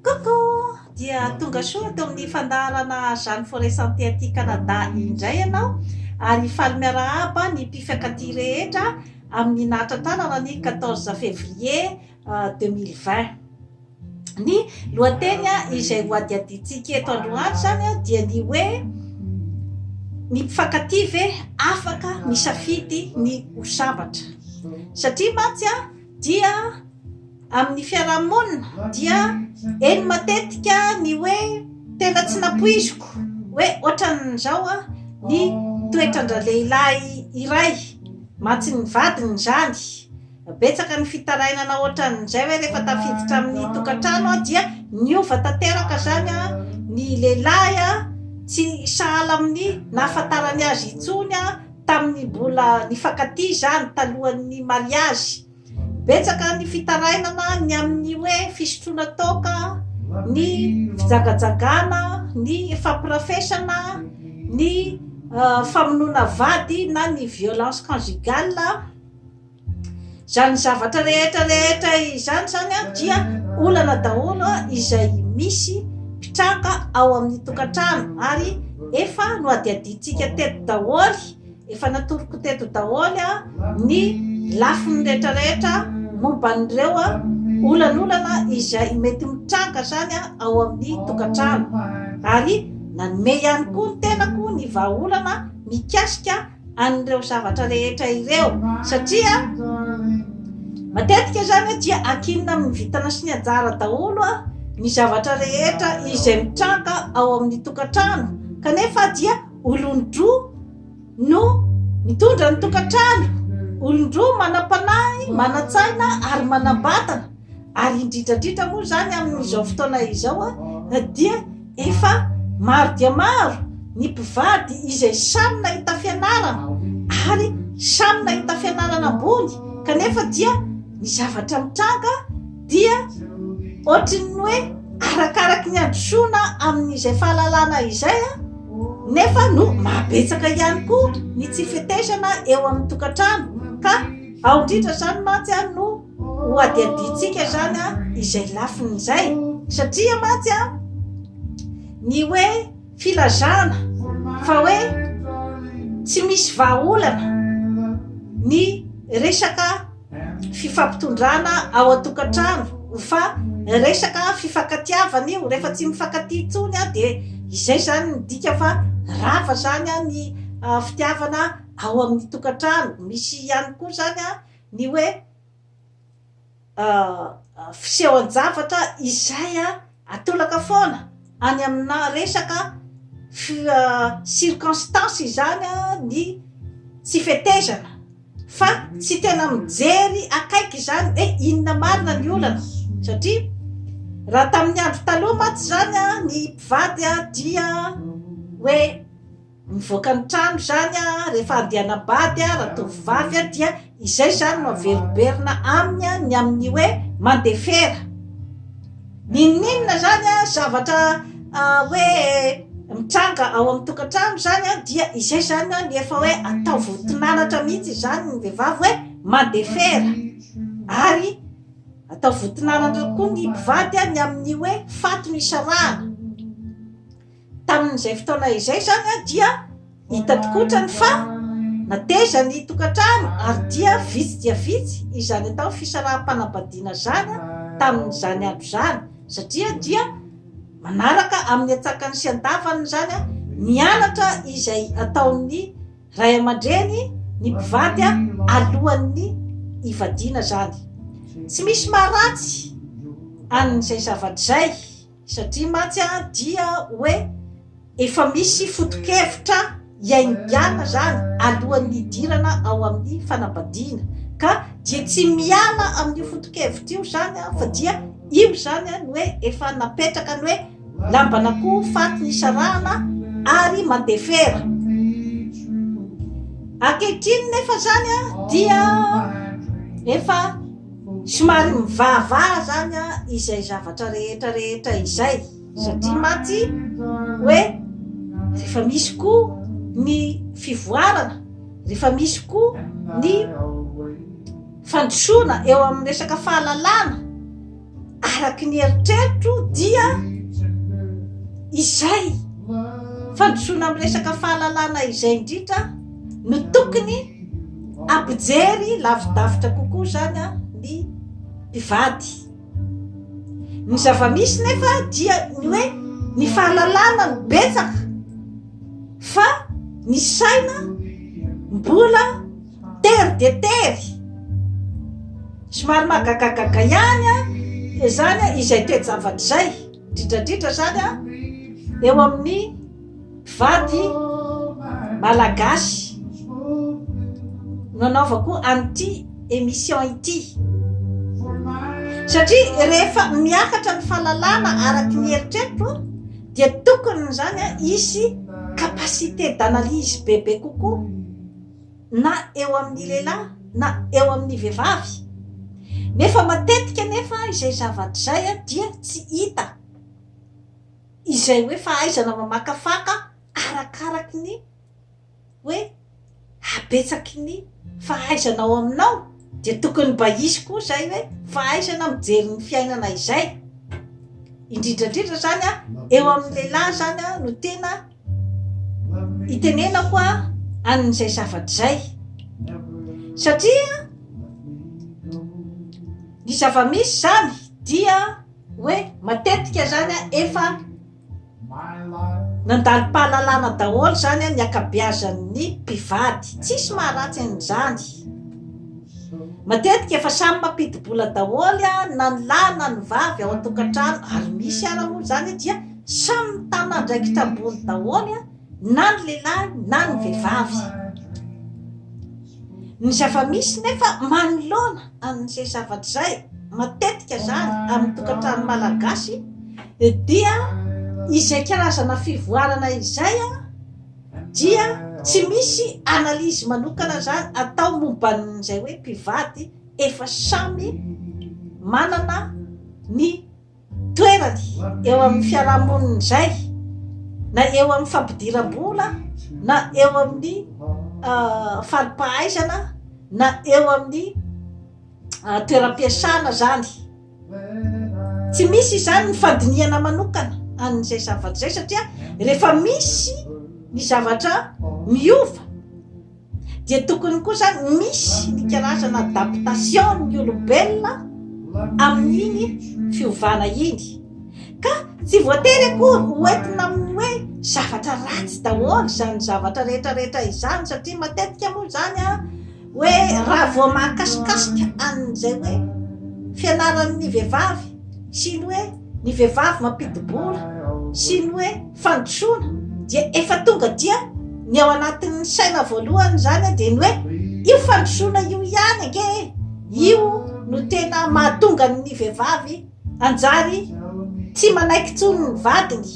Coucou! Dia tonga soa eto amin'ny fandaharana Jeanne Forêt Santé aty Canada indray ianao ary faly miarahaba ny mpifiakatia rehetra amin'ny nahatrantarana ny quatorze février deux mille vingt. Ny lohateny izay hohadihadiantsika eto androany izany dia ny hoe ny mpifankatia ve afaka misafidy ny ho sambatra? Satria mantsy a! dia amin'ny fiarahamonina dia eny matetika ny hoe tena tsy nampoiziko hoe ohatran'izao a ny toetran-dralehilahy iray mantsy ny vadiny izany betsaka ny fitarainana ohatran'izay hoe rehefa tafiditra amin'ny tokantrano aho dia niova tanteraka izany a ny lehilahy a tsy sahala amin'ny nahafantarany azy intsony a Tamin'ny mbola nifankatia izany talohan'ny mariazy, betsaka ny fitarainana ny amin'ny hoe fisotroana toaka, ny fijagajagana, ny fampirafesana, ny famonoana vady na ny violence conjugale. Izany zavatra rehetra rehetra izany izany dia olana daholo izay misy mpitranga ao amin'ny tokantrano ary efa nohadihadiantsika teto daholo, efa natoroko teto daholo ny lafiny rehetra rehetra momba an'ireo olan'olana izay mety mitranga izany ao amin'ny tokantrano ary nanome ihany koa ny tenako ny vahaolana mikasika. an'ireo zavatra rehetra ireo satria matetika izany dia ankinina amin'ny vintana sy ny anjara daholo ny zavatra rehetra izay mitranga ao amin'ny tokantrano kanefa dia olon-droa no mitondra ny tokantrano olon-droa manam-panahy manan-tsaina ary manam-batana Ary indrindra indrindra moa izany amin'izao fotoana izao dia efa maro dia maro ny mpivady izay samy nahita fianarana ary samy nahita fianarana ambony kanefa dia ny zavatra mitranga dia ohatrin'ny hoe arakaraky ny androsoana amin'izay fahalalana izay a nefa no mahabetsaka ihany koa ny tsy fetezana eo amin'ny tokantrano ka ao indrindra izany mantsy a no ho adihadiantsika izany izay lafiny izay satria mantsy a ny hoe filazana fa hoe tsy misy vahaolana ny resaka fifampitondrana ao an-tokantrano ho fa resaka fifakatiavana io rehefa tsy mifankatia tsony a dia izay zany midika fa rava zany a ny ah, fitiavana ao amin'ny tokantrano misy ihany koa zany a ny hoe fisehoan-javatra izay atolaka foana any amina resaka circonstance izany ny tsy fetezana fa tsy tena mijery akaiky izany hoe inona marina ny olana satria raha tamin'ny andro taloha mantsy izany ny mpivady dia hoe Mivoaka ny trano izany rehefa andianam-bady ratovovavy dia izay izany no averimberina aminy ny amin'ny hoe mandefera. N'inon'inona izany zavatra hoe mitranga ao amin'ny tokantrano izany dia izay izany ny efa hoe atao voton'anatra mihitsy izany ny vehivavy hoe mandefera. Ary atao voton'anatra koa ny mpivady ny amin'ny hoe faty no isarahana. Tamin'izay fotoana izay izany dia hita tokoa otrany fa nateza ny tokantrano ary dia vitsy dia vitsy izany atao fisaraham-panambadiana izany tamin'izany andro izany satria dia manaraka amin'ny atsakany sy andavany izany ny anatra izay ataon'ny ray aman-dreny ny mpivady alohan'ny hivadiana izany. Tsy misy maharatsy an'izay zavatra izay. Satria mantsy dia hoe efa misy foto-kevitra iainganna izany alohan'ny hidirana ao amin'ny fanambadiana, ka dia tsy miala amin'io foto-kevitra io izany fa dia io izany no hoe efa napetraka ny hoe lamban'akoho faty ny isarahana ary mandefera. Ankehitriny nefa izany dia efa. Somary mivahavàha zany izay zavatra rehetra rehetra izay satria mantsy hoe rehefa misy koa ny fivoarana, rehefa misy koa ny fandrosoana eo amin'ny resaka fahalalàna araky ny eritreritro dia izay fandrosoana amin'ny resaka fahalalàna izay indrindra no tokony ampijery lavidavitra kokoa izany a ny mpivady ny zava-misy nefa dia ny hoe ny fahalalana no betsaka fa ny saina mbola tery dia tery somary mahagagagaga ihany a dia izany a izay toe-javatra izay indrindrandrindra izany a eo amin'ny Vady malagasy no anaovako an'ity émission ity. Satria rehefa miakatra ny fahalalana araky ny eritreritro dia tokony izany hisy capacité d'analyse bebe kokoa na eo amin'ny lehilahy na eo amin'ny vehivavy. Nefa matetika nefa izay zavatra izay dia tsy hita. izay hoe fahaizana mamakafaka arakaraky ny hoe habetsaky ny fahaizana ao aminao dia tokony mba hisy koa izay hoe fahaizana mijery ny fiainana izay indrindra indrindra zany a eo amin'ny lehilahy zany a no tena itenenako a an'izay zavatra izay satria ny zava-misy zany dia Hoe matetika zany an efa nandalim-pahalalana daholo zany an ny ankabeazan'ny mpivady. Tsisy maharatsy an'izany. Matetika efa samy mampidi-bola daholo an na ny lahy na ny vavy ao an-tokantrano ary misy ara moa zany dia samy mitana andraikitra ambony daholo an. na ny lehilahy na ny vehivavy. Ny zava-misy nefa manoloana an'izay zavatra izay, matetika izany amin'ny tokantrano malagasy, dia izay karazana fivoarana izay dia tsy misy analyse manokana izany atao momba an'izay hoe mpivady efa samy manana ny toerany eo amin'ny fiarahamonina izay na eo amin'ny fampidiram-bola na eo amin'ny ah, faripahaizana na eo amin'ny ah, toeram-piasana zany tsy misy izany ny fandinihana manokana an'izay zavatra izay satria rehefa misy ny zavatra miova dia tokony koa zany misy ny karazana adaptation ny olombelona amin'iny fiovana iny ka tsy voatery akory hoentina amin'ny hoe zavatra ratsy daholo izany zavatra rehetrarehetra izany satria matetika moa zany a hoe raha vao mahakasikasika an'izay hoe fianaran'ny vehivavy sy ny hoe ny vehivavy mampidi-bola sy ny hoe fandrosoana dia efa tonga dia ny ao anatin'ny saina voalohany izany dia ny hoe io fandrosoana io ihany ange e io no tena mahatonga ny vehivavy anjary tsy manaiky tsony ny vadiny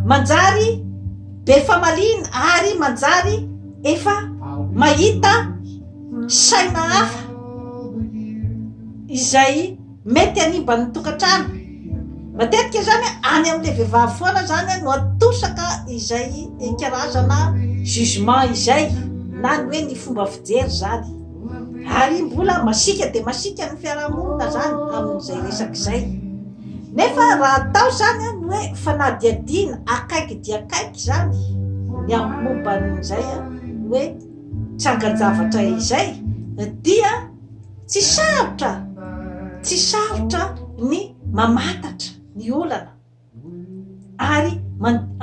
manjary be famaliana ary manjary efa mahita saina hafa izay Mety hanimba ny tokantrano. Matetika izany any amin'ilay vehivavy foana izany no atosaka izay karazana jugement izay na ny hoe ny fomba fijery izany. Ary mbola masiaka dia masiaka ny fiarahamonina izany amin'izay resaka izay. Nefa raha atao izany ny hoe fanadihadiana akaiky dia akaiky izany ny amin'ny momba an'izay hoe tsangan-javatra izay dia Tsy sarotra, tsy sarotra ny mamantatra ny olana ary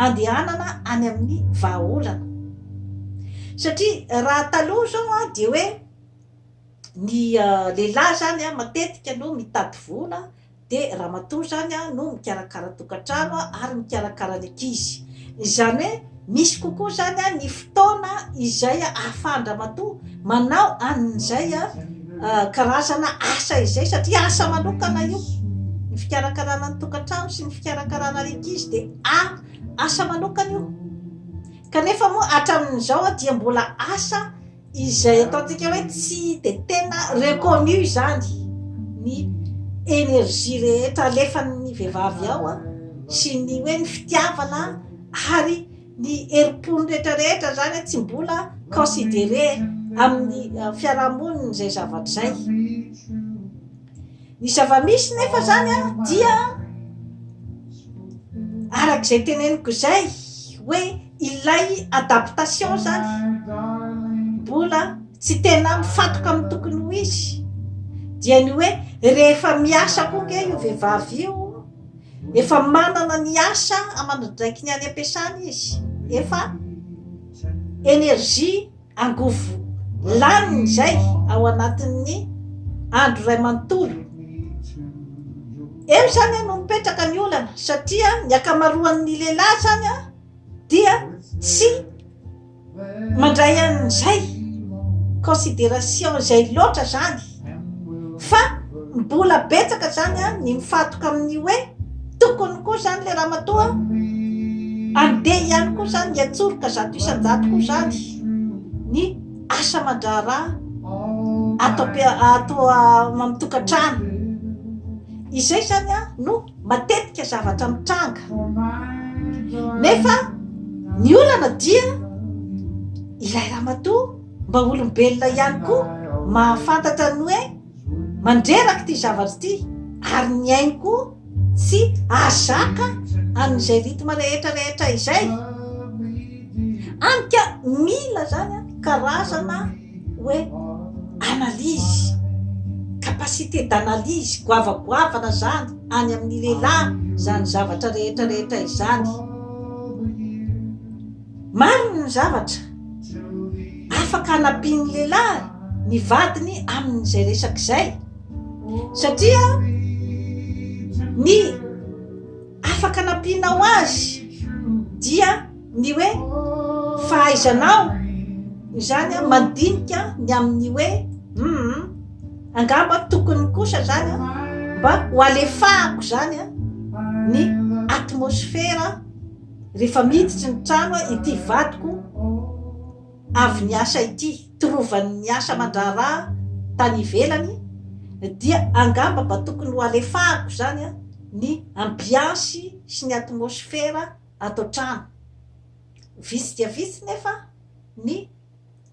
andehanana any amin'ny vahaolana. Satria raha taloha izao dia hoe ny lehilahy izany matetika no mitady vola, dia ramatoa izany no mikarakara tokantrano ary mikarakara ny ankizy. Izany hoe misy kokoa izany ny fotoana izay ahafahan-dramatoa manao an'izay karazana asa izay satria asa manokana io. Ny fikarakarana ny tokantrano sy ny fikarakarana ny ankizy dia asa manokana io. Kanefa moa hatramin'izao dia mbola asa izay ataontsika hoe tsy de tena reconnu izany ny energie rehetra alefan'ny vehivavy ao a sy ny hoe ny fitiavana ary ny herim-pony rehetrarehetra zany hoe tsy mbola considéré amin'ny fiarahamonina izay zavatra izay Ny zava-misy nefa zany an dia arak'izay teneniko izay hoe ilay adaptation zany mbola tsy tena mifatoka amin'ny tokony ho izy dia ny hoe rehefa miasa koa nge io vehivavy io efa manana ny asa amandradraikiny any am-piasana izy efa energie angovo laniny izay ao anatin'ny andro iray manontolo. Eo izany no mipetraka ny olana satria ny akamaroan'ny lehilahy izany a dia tsy mandray an'izay consideration izay loatra izany. Fa mbola betsaka izany ny mifantoka amin'ny hoe tokony koa izany ilay ramatoa handeha ihany koa izany hiantsoroka zato isan-jato koa izany ny asa aman-draharaha ato ato amin'ny tokantrano. Izay izany an no matetika zavatra mitranga. Nefa ny olana dia ilay ramatoa. Mba olombelona ihany koa mahafantatra ny hoe mandreraka ity zavatra ity ary ny ainy koa tsy azaka an'izay rythme rehetra rehetra izay anka mila zany a karazana hoe analyse capacité d'analyse goavagoavana zany any amin'ny lehilahy zany zavatra rehetra rehetra izany Marina ny zavatra, afaka hanampian'ny lehilahy ny vadiny amin'izay resaka izay, satria ny afaka hanampianao azy dia ny hoe fahaizanao izany a mandinika ny amin'ny hoe um angamba tokony kosa zany a mba ho alefahako zany a ny atmosfera Rehefa miditry ny trano ity vadiko avy niasa ity, torovany niasa aman-draharaha tany ivelany, dia angamba mba tokony ho alefahako izany ny ambiansy sy ny atmosfera ato an-trano. Vitsy dia vitsy nefa ny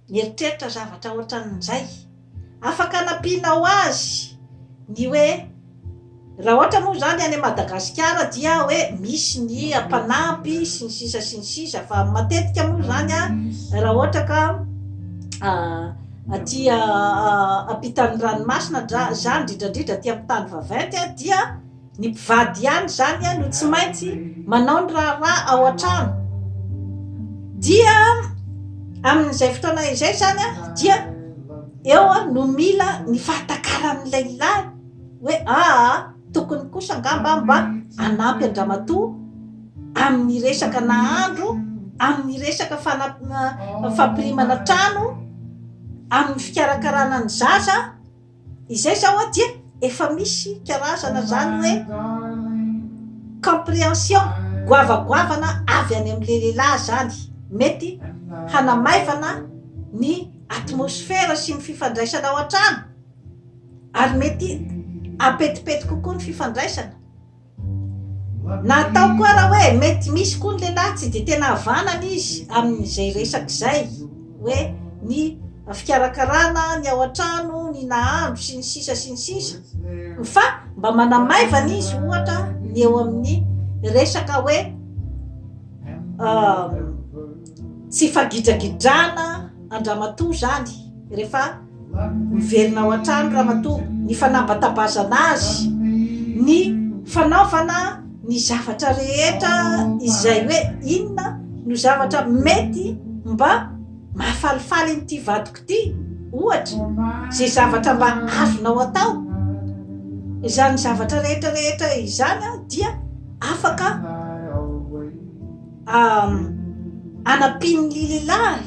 mieritreritra zavatra ohatran'izay. Afaka nampianao azy ny hoe raha ohatra moa izany any Madagasikara dia hoe misy ny mpanampy sy ny sisa sy ny sisa fa matetika moa izany a raha ohatra ka aty ampitan'ny ranomasina dra za indrindrandridra aty amin'ny tany vaventy a dia Ny mpivady ihany izany no tsy maintsy manao ny raharaha ao an-trano. Dia amin'izay fotoana izay izany dia eo no mila ny fahatakaran'ny lehilahy hoe aa tokony kosa angamba mba hanampy an-dramatoa amin'ny resaka nahandro, amin'ny resaka fana- fampirimana trano, amin'ny fikarakarana ny zaza. Izay zao aty e, efa misy karazana zany hoe comprehension, goavagoavana avy any amin'le lehilahy zany, mety hanamaivana ny atmosfera sy ny fifandraisana ao an-trano, ary mety hampetipety kokoa ny fifandraisana, Natao koa raha hoe mety misy koa ny lehilahy tsy dia tena havanana izy amin'izay resaka izay hoe ny fikarakarana ny ao an-trano, ny nahandro sy ny sisa sy ny sisa fa mba manamaivana izy ohatra ny eo amin'ny resaka hoe tsy hifagidragidrana an-dramatoa izany rehefa. Miverina ao an-trano ramatoa, ny fanambatabazana azy, ny fanaovana ny zavatra rehetra izay hoe inona no zavatra mety mba mahafalifaly an'ity vadiko ity, ohatra, izay zavatra mba azonao atao. Izany zavatra rehetra rehetra izany dia afaka. anampian'ny lililahy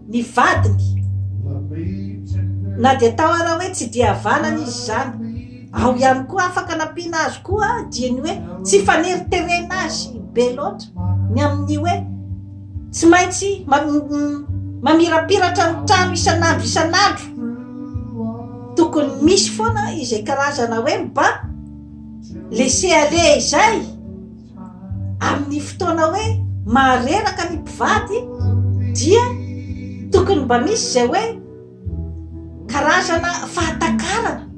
ny vadiny na dia tao ara hoe tsy dia havanana izy izany ao ihany koa afaka anampiana azy koa dia ny hoe tsy faneriterena azy be loatra ny amin'ny hoe tsy maintsy mamirapiratra ny trano isan'andro isan'andro tokony misy foana izay karazana hoe mba lese ale izay amin'ny fotoana hoe mahareraka ny mpivady dia tokony mba misy zay hoe karazana fahatakarana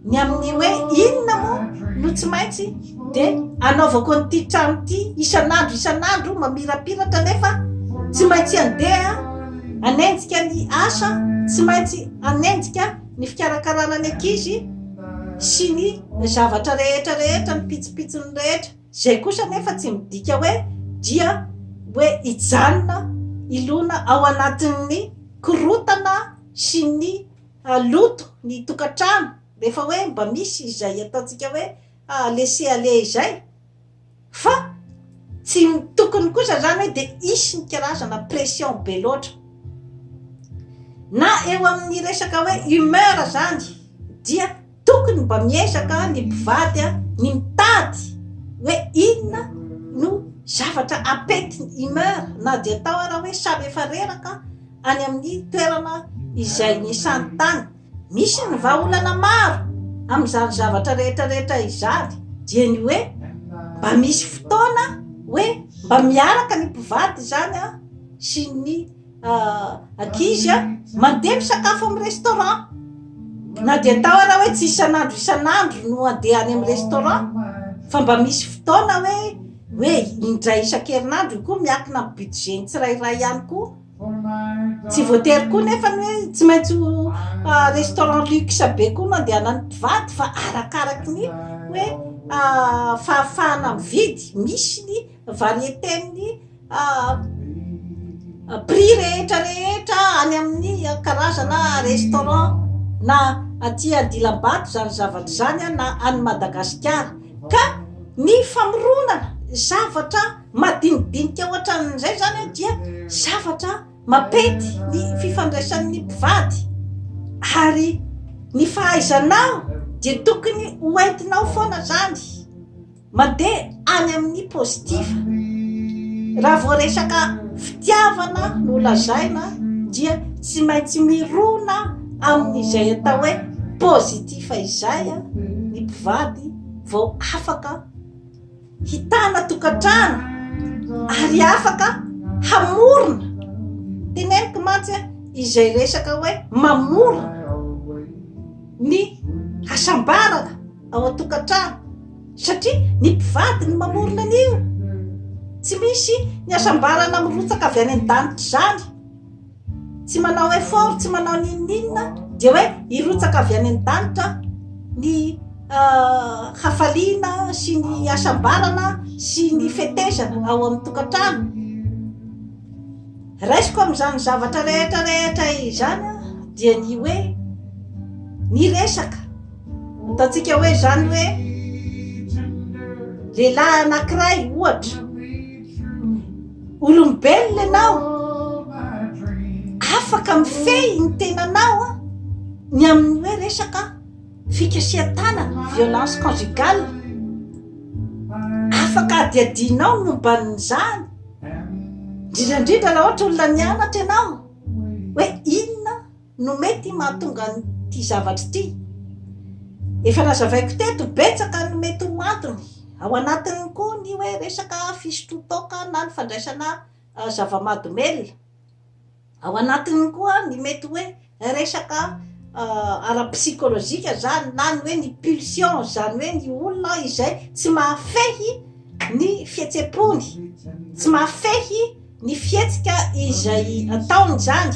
ny amin'ny hoe inona moa no tsy maintsy de anaovako an'ity trano ity isan'andro isan'andro mamirapiratra nefa tsy maintsy andeha anenjika ny asa tsy maintsy anenjika ny fikarakarana ny ankizy sy ny zavatra rehetra rehetra ny pitsopitsony rehetra izay kosa anefa tsy midika hoe dia hoe hijanona ilona ao anatin'ny korotana sy ny ah, loto ny tokantrano rehefa hoe mba misy izay ataontsika hoe ah, laisser aller izay Fa tsy ny tokony kosa zany hoe dia hisy ny karazana pression be loatra. Na eo amin'ny resaka hoe humeur zany dia tokony mba miezaka ny mpivady ny mitady hoe inona no zavatra apety ny humeur na dia atao ary hoe samy efa reraka any amin'ny toerana izay nisantany. Misy ny vahaolana maro amin'izany zavatra rehetra rehetra izany dia ny hoe mba misy fotoana hoe mba miaraka ny mpivady izany a sy ny ankizy a mandeha misakafo amin'ny restaurant na dia atao ara hoe tsy isan'andro isan'andro no andeha any amin'ny restaurant fa mba misy fotoana hoe hoe indray isan-kerinandro io koa miakina amin'ny budget ny tsirairay ihany koa Tsy voatery koa nefa ny hoe tsy maintsy ho restaurant luxe be koa no andehanan'ny mpivady fa arakaraky ny hoe fahafahana mividy. Misy ny variété-n'ny prix rehetra rehetra any amin'ny karazana restaurant na aty Andilambato izany zavatra izany na any Madagasikara ka ny famoronana zavatra madinidinika ohatran'izay zany a dia zavatra mampety ny fifandraisan'ny mpivady ary ny fahaizanao dia tokony ho entinao foana zany mandeha any amin'ny positif raha voaresaka fitiavana no lazaina dia tsy maintsy mirona amin'izay atao hoe positif izay a ny mpivady vao afaka hitana tokantrano ary afaka hamorona, teneniko mantsy a, izay resaka hoe mamorona ny hasambarana ao an-tokantrano satria ny mpivady no mamorona an'io, tsy misy ny hasambarana mirotsaka avy any an-danitra izany. tsy manao effort tsy manao ninoninona dia hoe hirotsaka avy any an-danitra ny hafaliana sy ny hasambarana sy ny fetezana ao amin'ny tokantrano raisiko amin'izany zavatra rehetra rehetra izany dia ny hoe ny resaka Ataontsika hoe izany hoe lehilahy anankiray ohatra olombelona ianao afaka mifehy ny tenanao a ny amin'ny hoe resaka fikasihan-tanana violence conjugale afaka adiadianao ny momban'izany indrindra indrindra raha ohatra olona nianatra ianao hoe inona no mety mahatonga an'ity zavatra ity. Efa nazavaiko teto betsaka ny mety ho antony, ao anatiny koa ny hoe resaka fisotroan-toaka na ny fandraisana zava-mahadomelina, ao anatiny koa ny mety hoe resaka ara-psikolojika izany na ny hoe ny pulsion, izany hoe ny olona izay tsy mahafehy ny fihetsem-pony, tsy mahafehy. Ny fihetsika izay ataony izany,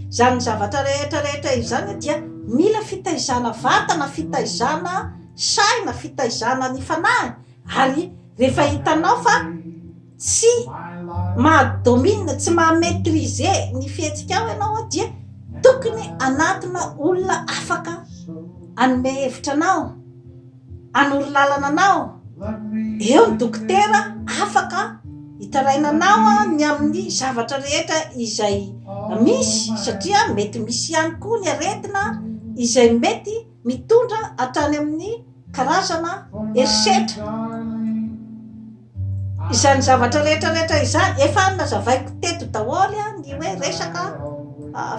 izany zavatra rehetra rehetra izany dia mila fitaizana vatana, fitaizana saina, fitaizana ny fanahy ary rehefa hitanao fa tsy maha domine, tsy maha maitrise ny fihetsikao ianao dia tokony hanatona olona afaka hanome hevitra anao. hanoro lalana anao, eo ny dokotera afaka hitaraina anao ny amin'ny zavatra rehetra izay misy satria mety misy ihany koa ny aretina izay mety mitondra hatrany amin'ny karazana herisetra. Izany zavatra rehetra rehetra izany efa nazavaiko teto daholo ny hoe resaka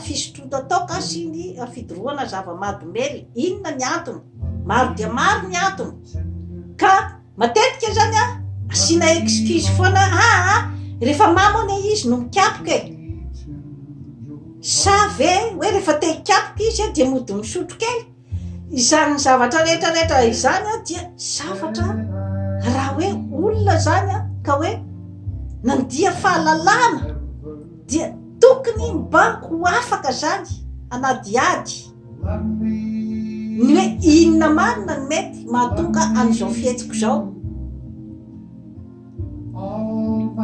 fisotroana toaka sy ny fidorohana zava-mahadomelina. Inona ny antony? Maro dia maro ny antony. Ka matetika izany a, asiana excuse foana ah ah, rehefa mamo anie izy no mikapoka e. Sa ve hoe rehefa te hikapoka izy dia mody misotro kely? Izany zavatra rehetra rehetra izany dia zavatra raha hoe olona izany a ka hoe nandia fahalalana dia tokony mba ho afaka zany hanadihady ny hoe inona marina ny mety mahatonga an'izao fihetsiko izao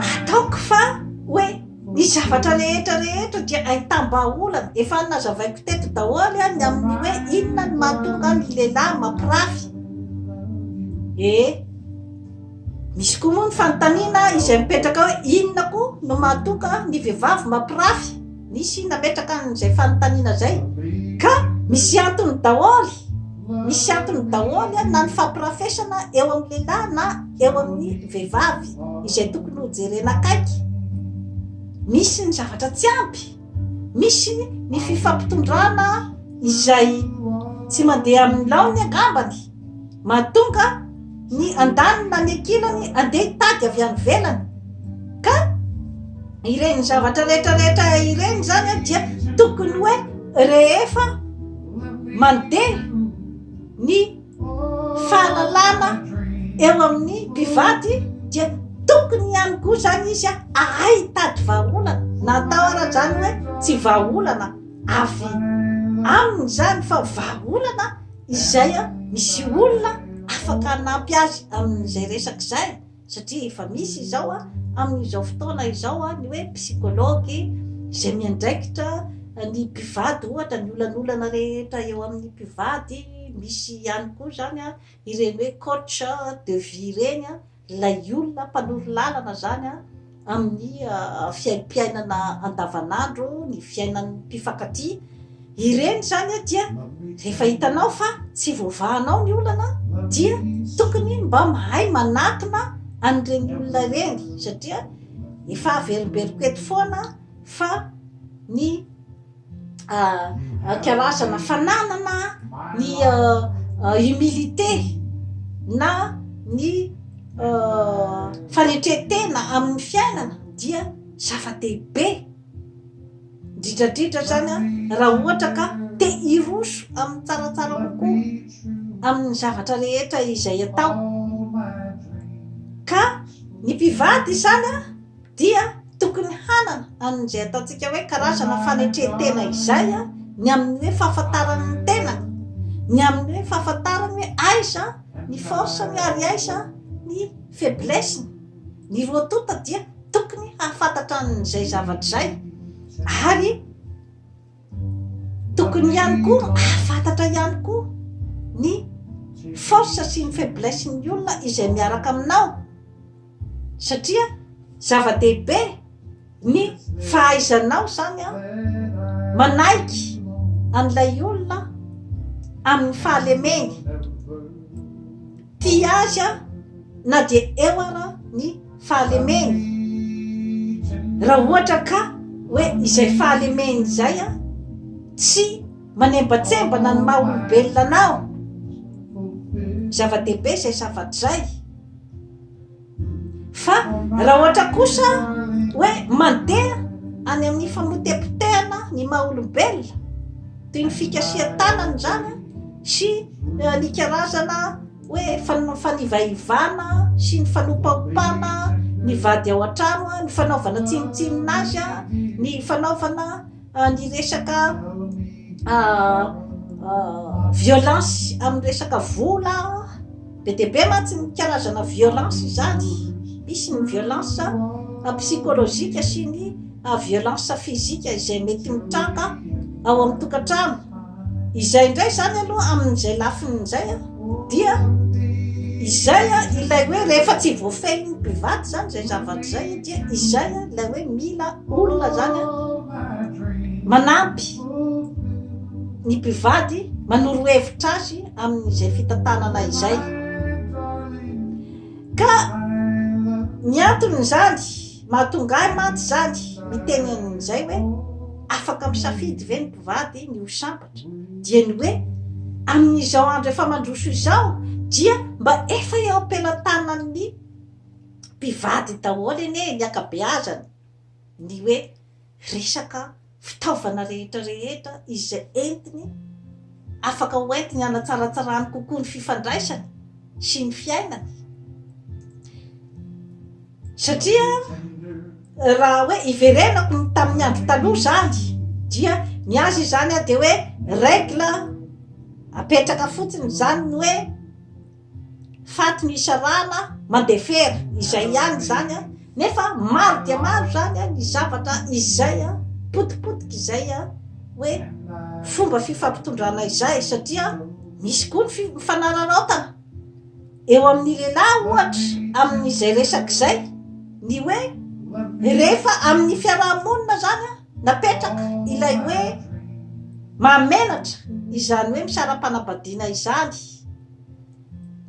Ataoko fa hoe ny zavatra rehetra rehetra dia ahitam-bahaolana. Efa nazavaiko teto daholo ny amin'ny hoe inona ny mahatonga ny lehilahy mampirafy. Eh, misy koa moa ny fanontaniana izay mipetraka hoe inona koa no mahatonga ny vehivavy mampirafy? Nisy nametraka an'izay fanontaniana izay ka misy antony daholo, misy antony daholo na ny fampirafesana eo amin'ny lehilahy na eo amin'ny vehivavy izay tokony ho jerena akaiky. Misy ny zavatra tsy ampy, misy ny fifampitondrana izay tsy mandeha amin'ny laoniny angambany. Mahatonga ny andaniny na ny ankilany handeha hitady avy any ivelany. Ka ireny zavatra rehetra rehetra ireny zany dia tokony hoe rehefa mandeha ny fahalalana eo amin'ny mpivady dia tokony ihany koa zany izy a ahay hitady vahaolana na atao ara zany hoe tsy vahaolana avy aminy zany fa vahaolana izay misy olona afaka hanampy azy amin'izay resaka izay satria efa misy izao amin'izao fotoana izao ny hoe psychologue izay miandraikitra ny mpivady ohatra ny olanolana rehetra eo amin'ny mpivady, misy ihany koa izany ireny hoe coach de vie ireny. Ilay olona mpanoro lalana izany amin'ny fiaimpiainana andavanandro, ny fiainan'ny mpifankatia, ireny izany dia rehefa hitanao fa tsy voavahanao ny olana dia tokony mba mahay manatona an'ireny olona ireny satria efa averimberiko eto foana fa ny karazana fananana ny humilité na ny fanetren-tena amin'ny fiainana dia zava-dehibe indrindradrindra zany an raha ohatra ka te hiroso amin'ny tsaratsara kokoa amin'ny zavatra rehetra izay atao ka ny mpivady izany an dia tokony hanana an'izay ataontsika hoe karazana fanetren-tena izay ny amin'ny hoe fahafantarany ny tenany, ny amin'ny hoe fahafantarany hoe aiza ny force-ny ary aiza ny faiblesse-ny. Ny roa tonta dia tokony hahafantatra an'izay zavatra izay ary Tokony ihany koa hahafantatra ihany koa ny force sy ny faiblesse ny olona izay miaraka aminao satria zava-dehibe ny fahaizanao zany an manaiky an'ilay olona amin'ny fahalemeny Tia azy aho na dia eo ara ny fahalemeny. Raha ohatra ka hoe izay fahalemeny izay a, tsy manembatsembana ny maha olombelona anao, zava-dehibe izay zavatra izay. Fa raha ohatra kosa hoe mandeha any amin'ny famotepotehana ny maha olombelona, toy ny fikasihan-tanana izany sy ny karazana hoe fanivaivana sy ny fanopaopana ny vady ao an-trano, ny fanaovana tsinontsinona azy, ny fanaovana. Ny resaka violence amin'ny resaka vola be dia be mantsy ny karazana violence izany, misy ny violence psychologique sy ny violence physique izay mety mitranga ao amin'ny tokantrano. Izay indray izany aloha amin'izay lafiny izay a, dia izay a ilay hoe rehefa tsy voafehin'ny mpivady izany izay zavatra izay dia izay a ilay hoe mila olona izany a manampy ny mpivady manoro hevitra azy amin'izay fitantanana izay ka ny anton'izany Mahatonga ahy mantsy izany miteny an'izay hoe afaka misafidy ve ny mpivady ny ho sambatra? dia ny hoe amin'izao andro efa mandroso izao dia mba efa eo am-pelantanan'ny mpivady daholo anie ny ankabeazany ny hoe resaka fitaovana rehetra rehetra izay entiny afaka ho entiny hanatsaratsarany kokoa ny fifandraisany sy ny fiainany satria raha hoe iverenako ny tamin'ny andro taloha zany dia ny azy izany a dia hoe règle apetraka fotsiny zany ny hoe Faty misy ràna mandefera, izay ihany izany an! Nefa maro dia maro izany an, ny zavatra izay an, potipotika izay an, hoe fomba fifampitondrana izay, satria misy koa ny fifanararaotana eo amin'ny lehilahy ohatra amin'izay resaka izay, ny hoe rehefa amin'ny fiaraha-monina izany an, napetraka ilay hoe mahamenatra izany hoe misara-panambadiana izany.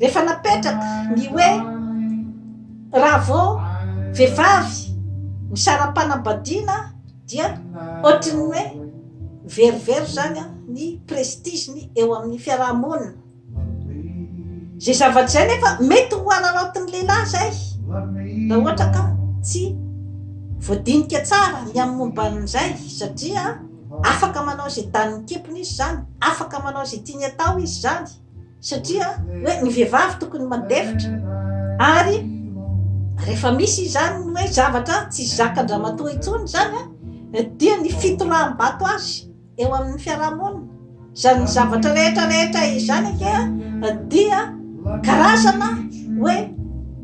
rehefa napetraka ny hoe raha vao vehivavy misara-panambadiana dia ohatry ny hoe very very zany a ny prestige-ny eo amin'ny fiaraha-monina zay zavatra zay nefa mety ho araraotin'ny lehilahy zay raha ohatra ka tsy voadinika tsara ny amin'ny momba an'izay satria Afaka manao izay danin'ny kepiny izy izany, afaka manao izay tiany atao izy izany, satria hoe ny vehivavy tokony mandefitra, ary rehefa misy izany ny hoe zavatra tsy zakan-dramatoa intsony izany dia ny fitoraham-bato azy eo amin'ny fiarahamonina. Izany zavatra rehetra rehetra izany ange dia karazana hoe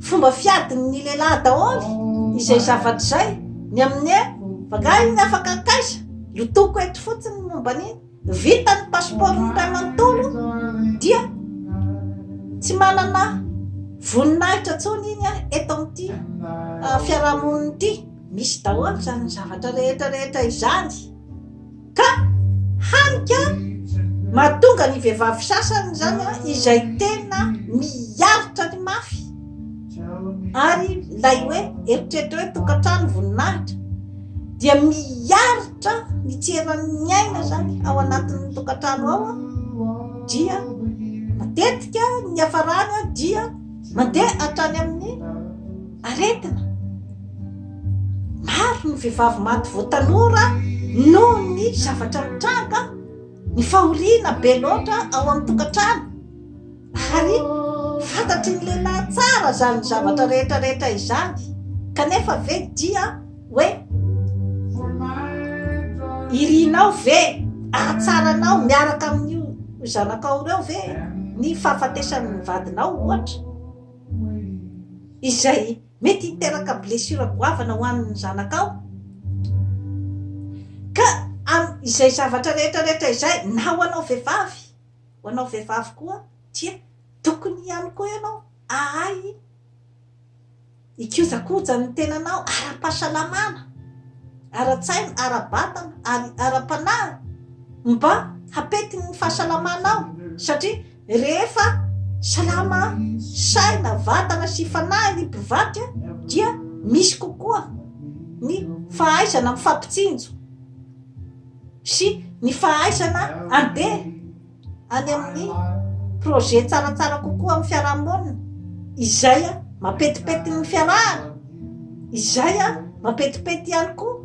fomba fiadin'ny lehilahy daholo izay zavatra izay ny amin'ny hoe vagahy ny afaka akaiza lotoko eto fotsiny momba ny vita ny pasipaoro ny ray manontolo dia tsy manana voninahitra tsony iny a eto amin'ity ah, fiarahamonina ity misy daholo izany zavatra rehetra rehetra izany Ka hany ka mahatonga ny vehivavy sasany izany izay tena miaritra ny mafy ary ilay hoe eritreritra hoe tokantrano voninahitra dia miaritra ny tseran'ny aina izany ao anatin'ny tokantrano ao a dia matetika ny hafarana dia mandeha hatrany amin'ny Aretina! Maro ny vehivavy maty vao tanora noho ny zavatra mitranga, ny fahoriana be loatra ao amin'ny tokantrano. Ary fantatry ny lehilahy tsara izany zavatra rehetra rehetra izany. Kanefa ve dia hoe irinao ve ahatsaranao miaraka amin'io zanakao ireo ve ny fahafatesan'ny vadinao ohatra? izay mety hiteraka blessure goavana ho an'ny zanakao ka am izay zavatra rehetra rehetra izay na ho anao vehivavy ho anao vehivavy koa dia tokony ihany koa ianao ahay ikojakoja ny tenanao ara-pahasalamana ara-tsaina ara-batana ary ara-panahy mba hapetin'ny fahasalamanao satria Rehefa salama saina, vatana sy fanahy ny mpivadika dia misy kokoa ny fahaizana mifampitsinjo sy ny fahaizana andeha any amin'ny projet tsaratsara kokoa amin'ny fiarahamonina izay mampetipety ny fiarahana, izay mampetipety ihany koa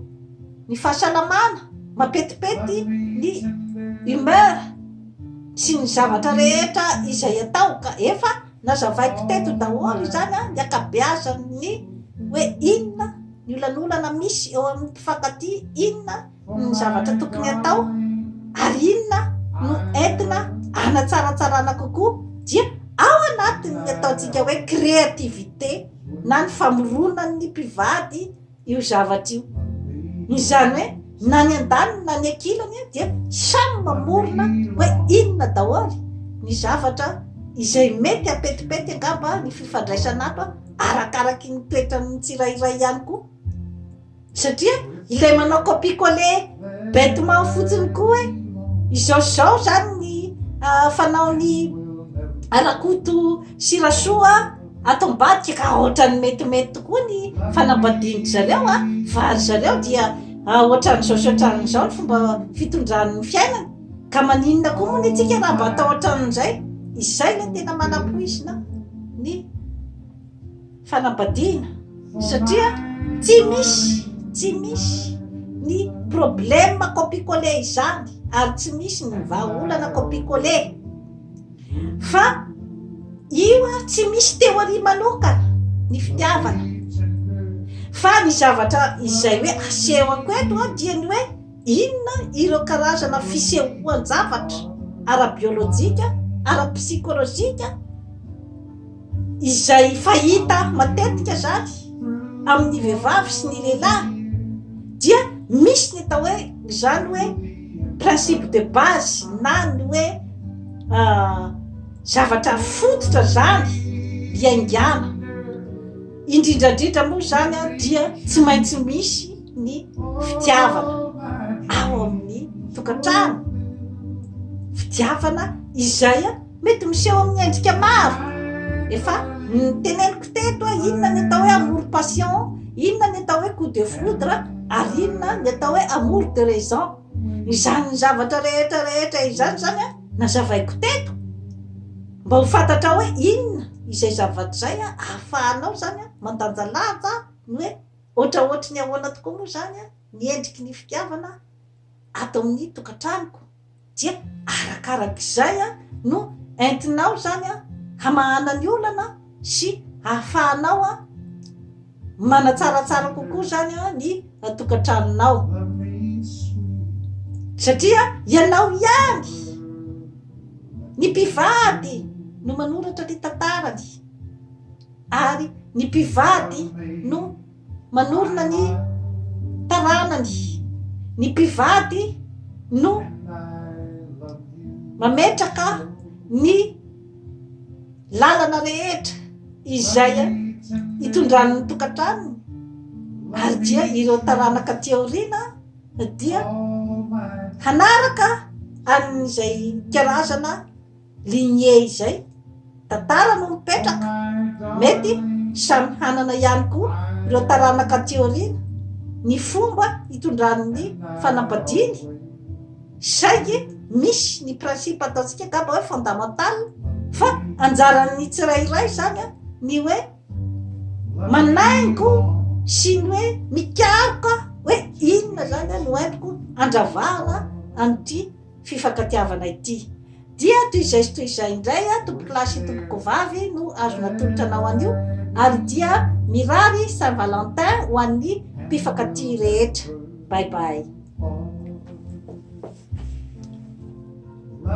ny fahasalamana, mampetipety ny humeur. sy ny zavatra rehetra izay atao ka efa nazavaiko teto daholo izany an, ny ankabeazan'ny hoe inona ny olanolana misy eo amin'ny mpifankatia, inona ny zavatra tokony atao ary inona no entina hanatsaratsarana kokoa dia ao anatin'ny ataontsika hoe créativité na ny famoronan'ny mpivady io zavatra io izany hoe na ny an-daniny na ny ankilany dia samy mamorona hoe inona daholo ny zavatra izay mety apetipety angamba ny fifandraisana ato a arakaraky ny toetran'ny tsirairay ihany koa satria ilay manao copie colle bêtement fotsiny koa hoe izao zao zany ny ah, fanaon'ny arakoto sy rasoa Ato ambadika ka ohatran'ny metimety tokoa ny fanambadian-dry zareo a, fa ry zareo dia ohatran'izao sy ohatran'izao ny fomba fitondran'ny fiainany, ka maninona koa moa ny antsika raha mba atao ohatran'izay? Izay ilay tena manampoizina ny fanambadiana, satria tsy misy, tsy misy ny problème copicoler izany ary tsy misy ny vahaolana copicoler. Fa io ary tsy misy théorie manokana ny fitiavana fa ny zavatra izay hoe asehoko eto a dia ny hoe inona ireo karazana fisehoan-javatra ara-biolojika, ara-psikolojika, izay fahita matetika zany amin'ny vehivavy sy ny lehilahy dia misy ny atao hoe zany hoe principe de base na ny hoe ah, zavatra fototra zany iaingana indrindrandrindra moa zany a dia tsy maintsy misy ny fitiavana ao amin'ny tokantrano fitiavana izay a Mety miseho amin'ny endrika maro. Efa niteneniko teto hoe inona ny atao hoe amour passion, inona ny atao hoe coup de foudre ary inona ny atao hoe amour de raison. Izany zavatra rehetra rehetra izany izany a, nazavaiko teto mba ho fantatrao hoe inona izay zavatra izay a, ahafahanao izany a mandanjalanja ny hoe ohatraohatry ny ahoana tokoa moa izany ny endriky ny fitiavana ato amin'ny tokantranoko. dia arakarak'izay no entinao izany hamahana ny olana sy hahafahanao manatsaratsara kokoa izany ny tokantranonao satria ianao ihany ny mpivady no manoratra ny tantarany ary ny mpivady no manorina ny taranany, ny mpivady no mametraka ny lalana rehetra izay itondran'ny tokantranony ary dia ireo taranaka aty aoriana dia hanaraka an'izay karazana lignée izay, tantara no mipetraka, mety samy hanana ihany koa ireo taranaka aty aoriana ny fomba hitondran'ny fanambadiany, saingy misy ny principe ataontsika angamba hoe fondamental fa anjaran'ny tsirairay izany a, ny hoe manaingo sy ny hoe mikaroka hoe inona izany no entiko handravahana an'ity. fifankatiavana ity. Dia toy izay sy toy izay indray a, tompokolahy sy tompokovavy no azo natolotra anao anio, ary dia mirary Saint Valentin ho an'ny mpifankatia rehetra. Bye bye.